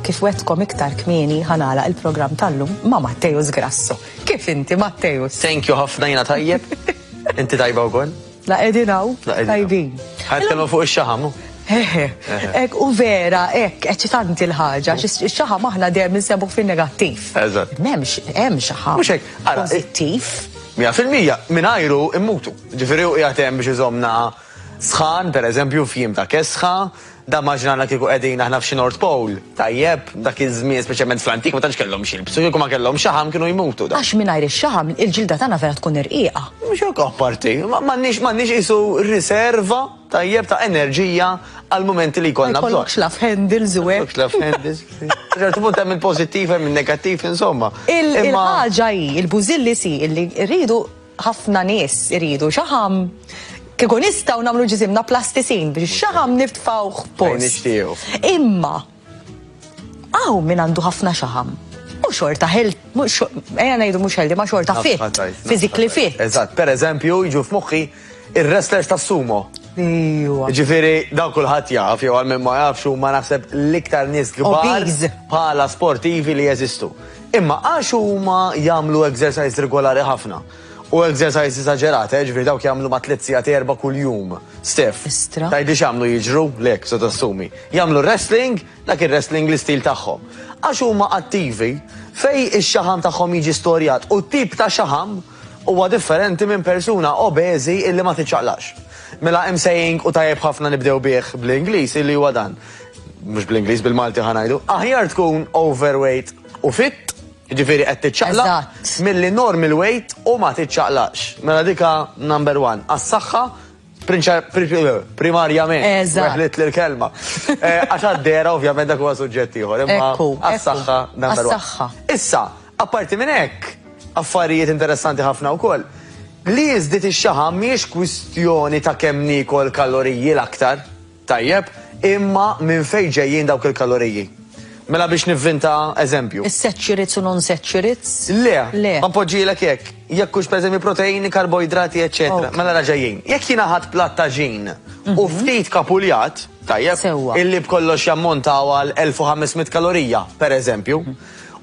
Kif wetkom iktar kmieni ħanala il-programm tal-lum ma' Matteus Grasso. Kif inti Matteus? Thank you ħafna jina tajjeb. Inti tajba u għon? La edinaw, tajbin. Ħajtkellmu fuq ix-xaħam. Ek u vera, ek, eċitanti l-ħagġa, xaħam aħna dejjem nsebu fin negattiv Eżatt. Memx, hemm xaħam. Mhux hekk, pozittiv. Mija fil-mija, minn ajru immutu. Ġifieri u qiegħed hemm biex iżomna Sħan, per eżempju, f'jiem ta' kesħa. Dan maġna għandna kieku qegħdin aħna f'xi North Pole. Tajjeb, dak iż-żmien, speċjalment fl-antik, ma tantx kellhom x'jilbsu. Kieku ma kellhom xaħam kienu jmutu. Għax mingħajr ix-xaħam il-ġilda tagħna vera tkun irqiqa. Mhux hekk apparti, m'għandniex m'għandniex qisu riserva, tajjeb, ta' enerġija għall-mumenti li jkollna bżonn. Ma jkollokx love handles u hekk. Ma jkollokx love handles. Sa ċertu punt hemm il-pożittiv hemm in-negattiv, insomma. Il-ħaġa hi, il-bużilli si, illi rridu, Ħafna nies iridu xaħam. Kieku nistgħu nagħmlu ġisimna plastisin biex xaħam niftfawh post. Imma hawn min għandu ħafna xaħam u xorta ħel, eja najdu mux ħeldi, ma xorta fit, fizikli fit. Eżat, per eżempju, jġu f'muħħi il-wrestlers ta' sumo. Ġifiri, daw kullħat jaf, jew għal-minn ma jafx, u ma naħseb l-iktar nis gbar pala sportivi li jeżistu. Imma għax huma jagħmlu exercise regolari ħafna. U exercise esagerata, eh, ġifieri dawk jagħmlu ma' tliet sigħat erba' kuljum. Stef. Istra. Tgħidli x'għamlu jiġru, lek se tassumi. Jagħmlu wrestling, dak ir-wrestling l-istil tagħhom. Għax huma attivi, fej ix-xaħam tagħhom jiġi storjat u t-tip ta' xaħam huwa differenti minn persuna obeżi illi ma tiċċaqlaqx. Mela hemm saying u tajjeb ħafna nibdew bih bl-Ingliż illi huwa dan, mhux bl-Ingliż bil-Malti ħa ngħidu, aħjar tkun overweight u fit, jiġifieri qed tiċċaqlaq, milli normal weight u ma tiċċaqlaqx. Mela dik hi number one. Għas-saħħa primarjament, weħliet li l-kelma. Għax għad-dehra ovvjament dak huwa suġġett ieħor, imma għas-saħħa number one. Issa, Apparti minn hekk, affarijiet interessanti ħafna wkoll, li jiżdied ix-xaħam mhijiex kwistjoni ta' kemm niekol kaloriji l-aktar, tajjeb, imma minn fejn ġejjin dawk il-kaloriji. Mela biex nivvinta eżempju. Is-saturates u non-saturates? Le. Le. Ma npoġġilek hekk. Jekk hux pereżempju proteini, karboidrati, eċċetera. Mela ra ġejjin. Jekk jiena ħadt platt ta' ġin u ftit kapuljat, tajjeb, illi b'kollox jammontaw għal 1500 kalorija, pereżempju,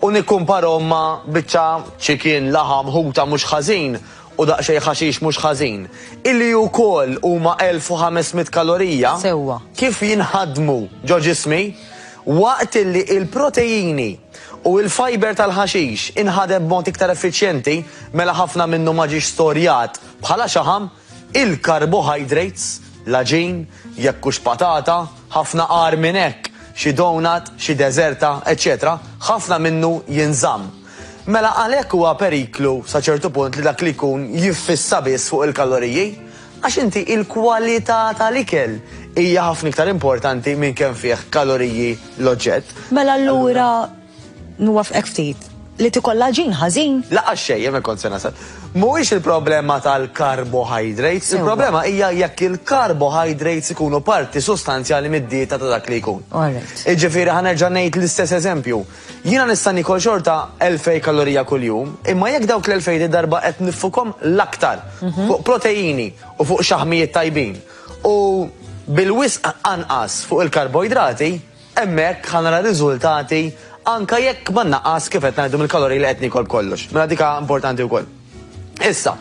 u nikkumparhom ma' biċċa ċikin, laħam, ħuta mhux ħażin u daqsxejn ħaxix mhux ħażin, illi wkoll huma 1,500 kalorija, kif jinħadmu ġo ġismi, waqt illi l-proteini u l-fiber tal-ħaxix inħadem b'mod iktar effiċjenti, mela ħafna minnu ma ġiex storjat bħala xaħam, Il-karbohydrates, l-għaġin, jekk hux patata, ħafna agħar minn hekk, xi donut, xi deżerta, eċċetera, ħafna minnu jinżamm. Mela għalhekk huwa periklu sa ċertu punt li dak li jkun jiffissa biss fuq il-kaloriji, għax inti il-kwalità tal-ikel hija ħafna iktar importanti minn kemm fih kaloriji l-oġġett. Mela allura Nwaffqek ftit. Li tikollha ġin ħażin? Laqqas xejn, hemm hekk kont se nasal. Mhuwiex il-problema tal-carbohydrates, il-problema hija jekk il-carbohydrates ikunu parti sustanzjali mid-dieta ta' dak li jkun. Jiġifieri ħa nerġa' ngħid l-istess eżempju. Jiena nista' nikol xorta 2,000 kalorija kuljum, imma jekk dawk l-2,000 din darba qed niffukhom l-aktar fuq proteini u fuq xaħmijiet tajbin u bil-wisq anqas fuq il-karboidrati, Hemmhekk ħa nara riżultati anke jekk ma nnaqqas kif qed ngħidu mill-kaloriji li qed niekol b'kollox. Mela dik importanti wkoll. Issa,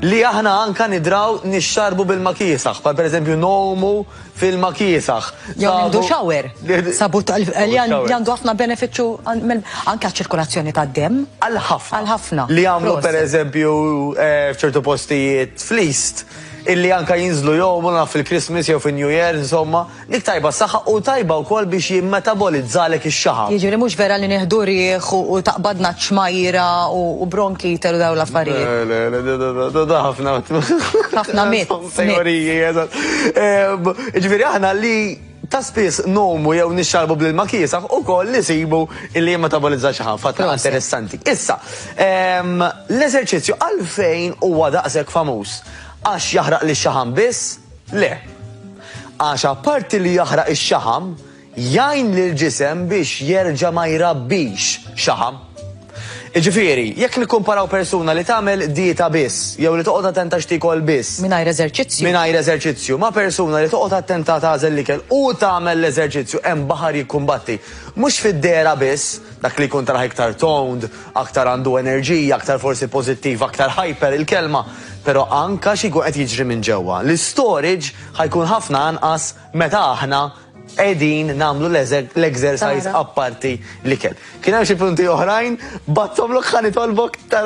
li aħna anke nidraw nixxarrbu b'ilma kiesaħ, bħal pereżempju ngħumu f'ilma kiesaħ. Jew nieħdu shower. Sabut li għandu ħafna benefiċċju anke għaċ-ċirkolazzjoni tad-demm. Għal ħafna. Għal ħafna. Li jagħmlu pereżempju f'ċertu postijiet fl-East illi anke jinżlu jgħumu naf fil-Christmas jew fin-New Year insomma. Dik tajba għas-saħħa u tajba wkoll biex jimmetabolizzalek ix-xaħam. Jiġifieri mhux vera li nieħdu riħ u taqbadna ċ-ċmajjra u bronkite u dawn l-affarijiet. Le, le, le, da, da, da, da, da ħafna. Ħafna myths. Ħafna teoriji, eżatt. Jiġifieri aħna li ta' spiss ngħumu jew nixxarrbu bl-ilma kiesaħ ukoll nisibu li jimmetabolizzha xaħam. Fatt interessanti. Issa, l-eżerċizzju għalfejn huwa daqshekk famuż? Għax jaħraq lix-xaħam biss? Le. Għax apparti li jaħraq ix-xaħam, jgħin lill-ġisem biex jerġa' ma jrabbix xaħam. Jiġifieri, jekk nikkumparaw persuna li tagħmel dieta biss jew li toqgħod attenta x'tiekol biss, Mingħajr eżerċizzju. mingħajr eżerċizzju, ma' persuna li toqgħod attenta tagħżel l-ikel u tagħmel l-eżerċizzju, hemm baħar jikkumbatti. Mhux fid-dehra biss, dak li jkun taraħ iktar toned, aktar għandu enerġija, aktar forsi pożittiv, aktar hyper, il-kelma, Pero anka xi jkun qed jiġri minn ġewwa, l-istorage ħa jkun ħafna anqas meta aħna qegħdin nagħmlu l-exercise apparti l-ikel. Kien hemm xi punti oħrajn, bgħatthomlok ħa nitolbok tara.